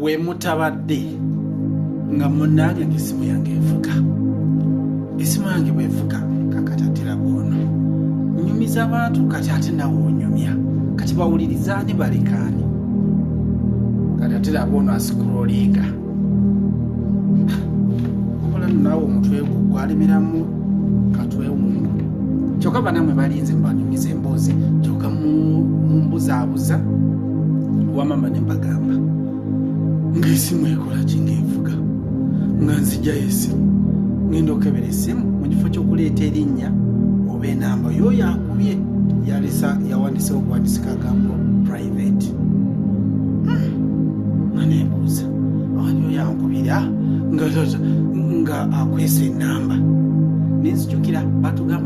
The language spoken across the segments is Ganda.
wemutabadde nga munange ngesimu yange evuga esimu yange bwevuga kakatatera bwono nyumiza abantu kati ate nawe onyumya kati bawulirizaani balekaani kati atera bwono asikurolinga okola naawe omutwe gwo gwalemeramu katwewungu kyokka banamwe balinze mbanyumiza emboozi kyoka mumbuzabuza mu, mu wamama nembagamba ngaesimu ekola kinga envuga nga nzijayo esimu ngenda okebera esimu mu kifo kyokuleeta erinnya oba enamba yoyo akubye yalesa yawandisa okuwandisika agambo private hmm. nga nebuuza ani oyo ankubira nga akwesa enamba nenzijukira batugamba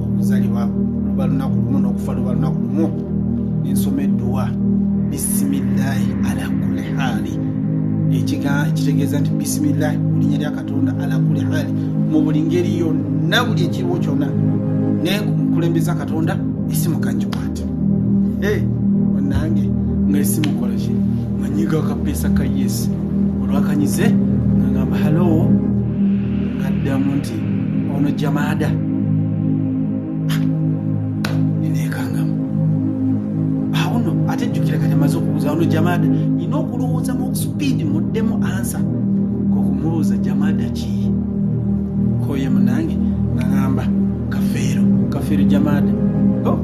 okuzalibwa luba lunaku lumu n'okufa luba lunaku lumu nensoma edduwa bisimillahi ala kuli haali ekitegeeza nti bisimillahi mulinya lya katonda ala kuli haali mu buli ngeri yonna buli ekiriwo kyonna naye nkulembeza katonda esimu kanjikwate onange nga esimu kolaki manyiga akapeesa ka yes olwakanyize ngangamba halowo ngaddamu nti ono jamaada nekangamu awo no ate jjukira kati amaze okubuuza ono jamaada nina okulowooza mu supiidi muddemu ansa kokumubuuza jamaada ki koye munange nagamba kafeero kafeero jamaada oh,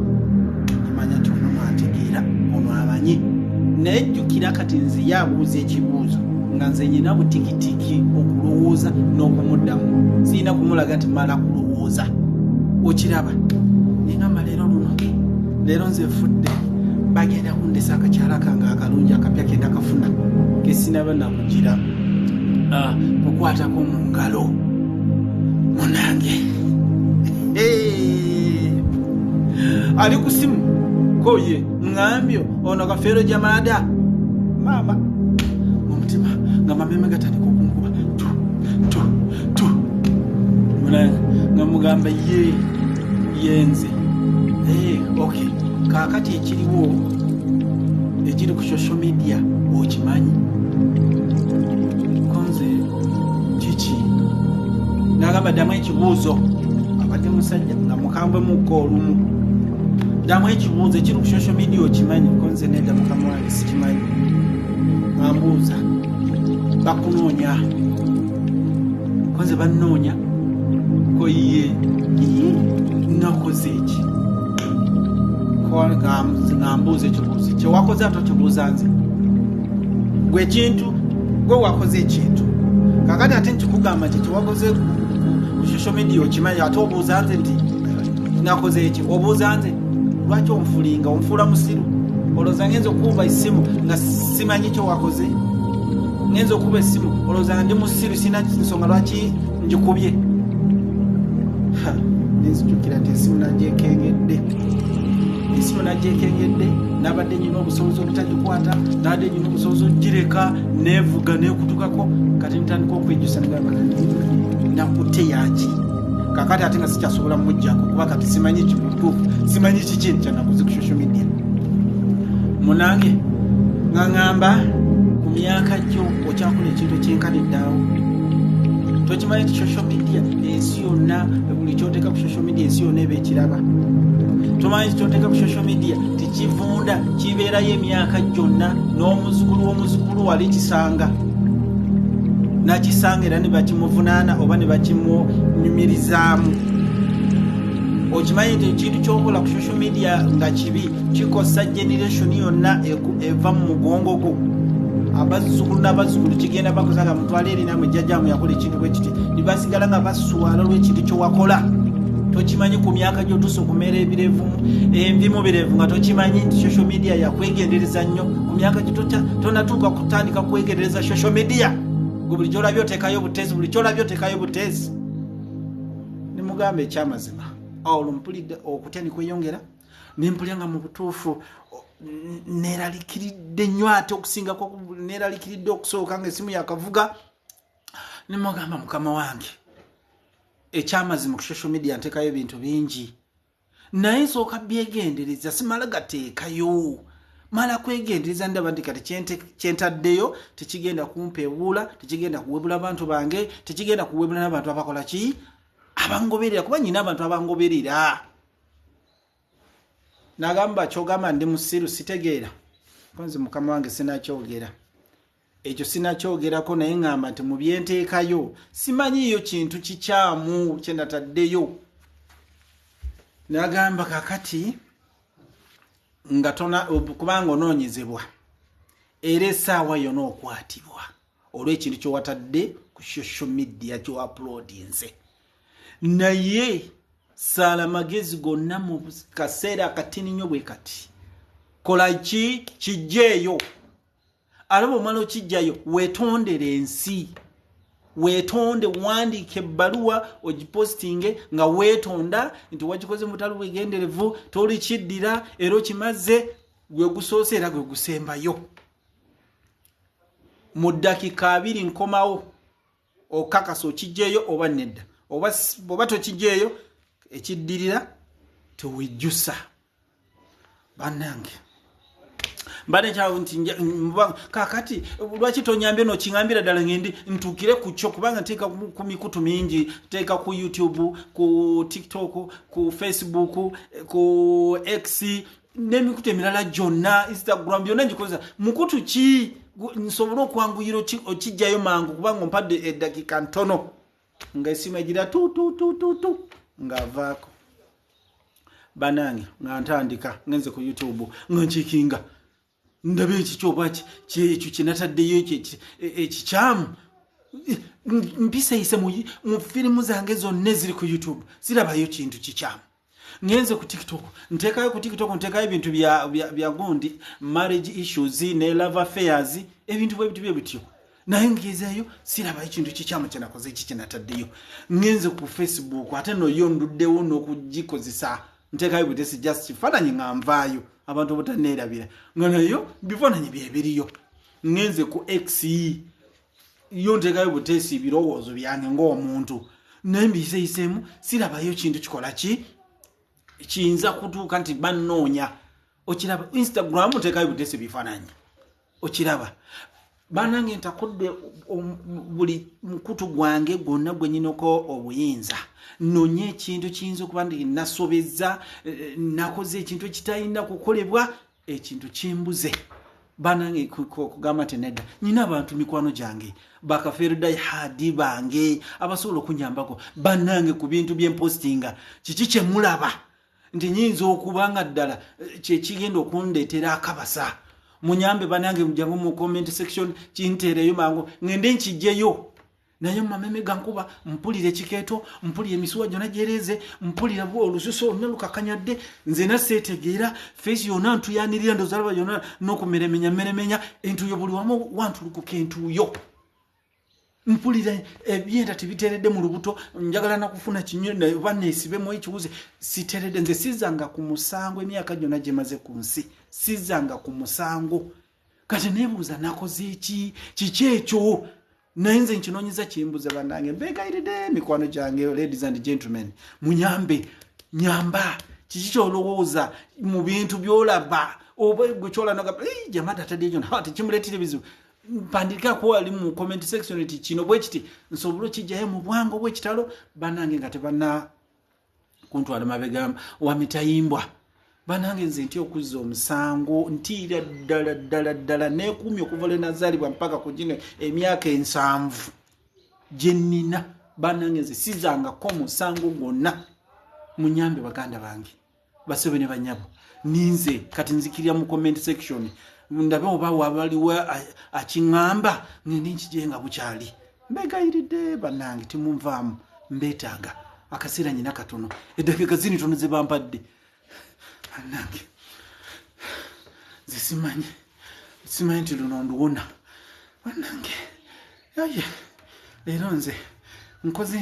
amanya nti ono mwantegeera ono abanye naye jjukira kati nziye abuuza ekibuuzo nga nze nyina butikitiki okulowooza n'okumuddamu sirina kumulaga nti mala kulowooza okiraba nengamba leero luno leero nze fudde bagenda kundesa akakyala kange akalungi akapya kenda kafuna kesinaba nakugira ah, kukwatako mu ngalo munange ali kusimu koye ngambyo ono kafeero jamaada maama omutima nga mameme gatandika okunkuba tu tu tu mulanga nga mugamba ye yenze ee eh, ok kaakati ekiriwo ekiri ku social media okimanyi konze kiki nagamba ddamu ekibuuzo abadde musajja nga mukambwe mukka olumu damu ekibuuzo ekiri ku social media okimanyi konze neda mukama wange sikimanyi ambuuza bakunoonya konze bannoonya koyiye nakoze eki ngambuuza ekibuuzo kyewakoze ate okibuuza nze gwe ekintu gwe wakoze ekintu kakati ate nkikugamba nti kyewakoze ku social media okimanyi ate obuuza nze nti nakoze eki obuuza nze lwaki onfulinga onfuula musiru olowooza ngenza okukuba essimu nga simanyi kyewakoze ngenza okuba essimu olowooza nga ndi musiru sina nsonga lwaki ngikubye nenzijukira nti esimu nagyekengedde esimu nagyekengedde nabadde nyina obusobozi obutagikwata nabadde nyina obusobozi okugireka nevuga nekutukako kati ntandika okwejusa nagamba nakute yaki kakati ate nga sikyasobola mujjako kuba kati simanyi kimutuufu simanyi kiki kyanakuze ku social media munange nga ŋamba ku myaka gyo okyakola ekintu ekyenkana eddaawo tokimanyi ti social media ensi yonna buli kyoteeka ku social media ensi yonna eba ekiraba tomanyi kyoteeka ku social media tekivunda kibeerayo emyaka gyonna n'omuzukulu w'omuzukulu wali kisanga nakisanga era ne bakimuvunaana oba ne bakimunyumirizaamu okimanyi nti ekintu kyokola ku social media nga kibi kikosa generation yonna eva mu mugongo gwo abazzukulu n'abazzukulu kigenda bakosa nga mutwala eri namwe jjajjamu yakola ekintu bwe kiti nibasigala nga baswala olw'ekintu kyewakola tokimanyi ku myaka gyotusa okumera ebirevu envimu birevu nga tokimanyi nti social media yakwegendereza nnyo ku myaka gito tonatuuka kutandika kwegerereza social media gwe buli kyolabye otekayo obuteesi buli kyolabye otekayo obuteesi nimugamba ekyamazima olwo mpulidde okutya nikweyongera nempulya nga mu butuufu neralikiridde nnyo ate okusingako neralikiridde okusooka nga esimu yakavuga nimugamba mukama wange ekyamazima ku social media ntekayo ebintu bingi naye nsooka byegendereza simala gateekayo mala kwegendereza ndaba nti kati kyentaddeyo tekigenda kumpeebuula tekigenda kuwebula bantu bange tekigenda kuwebula n'abantu abakola ki abangoberera kuba nyina abantu abangoberera nagamba kyogamba ndi musiru sitegeera konzi mukama wange sinakyogera ekyo sinakyogerako naye ngamba nti mu byenteekayo simanyiiyo kintu kikyamu kyenataddeyo nagamba kakati nga tona kubanga onoonyezebwa era esaawa yona okwatibwa olwekintu kyewatadde ku social media kyoapulodinze naye saala magezi gonna mu kaseera akatini nnyo bwe kati kola ki kijjeeyo ate bwomala okijjayo wetondere ensi wetonde wandiika ebbaluwa ogipostinge nga wetonda nti wakikoze mutalo bwegenderevu tolikiddira era okimazze gwe gusoose era gwe gusembayo mu ddakika abiri nkomawo okakasa okijjeeyo oba nedda oba oba tokijjeeyo ekiddirira tewejjusa banange mbadde nkyawo nti kakati lwaki tonyambye nokiŋambira ddala ngendi ntuukire ku kyo kubanga nteeka ku mikutu mingi teeka ku youtube ku tiktok ku facebook ku x n'emikutu emirala gyonna instagram byonna ngikozesa mukutu ki nsobole okwanguyira okijjayo mangu kubanga ompadde eddakiika ntono nga esimu egira tututututu ng'avaako banange nga ntandika ngenze ku youtube nga nkikinga ndaba ekikyo oba kyekyo kyenataddeyo ekyo e, ekikyamu mpiseyise mu firimu zange zonna eziri ku youtube zirabayo kintu kikyamu ngenze ku tiktok ntekayo ku tiktok ntekayo ebintu bya gundi marriage issues ne love affairs ebintu bwebiti bye bityo naye ngezeeyo sirabayo kintu kikyamu kyenakoze eki kyenataddeyo ngenze ku facebook ate noyo nduddewo n'okugikozesa ntekayo butesi just kifaananyi nga nvaayo abantu obutaneerabira nga nayo bifaananyi byebiriyo ngenze ku x yo ntekayo butesi birowoozo byange ngaomuntu naye mbiyiseyiseemu sirabayo kintu kikola ki kiyinza kutuuka nti bannoonya okiraba instagram ntekayo butesi bifaananyi okiraba banange ntakudde buli mukutu gwange gwonna gwenyinako obuyinza nonye ekintu kiyinza okuba nti nasobezza eh, nakoze ekintu ekitalina kukolebwa ekintu kimbuze banange kugamba nti nedda nyina abantu mikwano gyange bakafeerudayi hadi bange abasobola okunyambako banange ku bintu byempostinga kiki kyemulaba nti nyinza okuba nga ddala eh, kyekigenda okundeetera akabasa munyambe banange mujamu mu comment section kinteereyo mangu ngende nkijjeyo naye mumameme gankuba mpulira ekikeeto mpulira emisuwa gyona gyereeze mpulira olususu oluna lukakanyadde nze naseetegeera feesi yona ntuyanirira ndozalaba yona nokumeremenya meremenya entuyo buli wamu wantulukuka entuyo mpulira ebyenda tebiteredde mu lubuto njagala nakufuna kinyo oba nesibemu ekiwuzi siteredde nze sizanga ku musango emyaka gyona gyemaze ku nsi sizanga ku musango kati nebuuza nakoze eki kiki ekyo naye nze nkinonyeza kimbuza banange mbegayiride mikwano gyange ladies and gentlemen munyambe nyamba kiki kyolowooza mu bintu byolaba oba gwe kyolanaga jamata tadiyona tekimuletire bizibu mpandika ko ali mu comment section eti kino bwe kiti nsobolo kijjayo mu bwango bwe kitalo banange nga tebana kuntwala mabega wa mitayimbwa banange nze nti okuzza omusango ntiira ddala ddala ddala nekuumi okuva lwe nazaalibwa mpaka ku gino emyaka ensanvu gye nnina banange nze sizangako musango gwonna munyambe baganda bange basebe ne banyabo ninze kati nzikirira mu comment section ndabe oba wabaliwo akiŋamba ngendi nkije nga bukyali mbegayiridde banange timunvaamu mbetaaga akaseera nyina katono eddakiika zini tono ze bampadde banange zesimanyi simanyi nti luno nduwona banange aye leero nze nkoze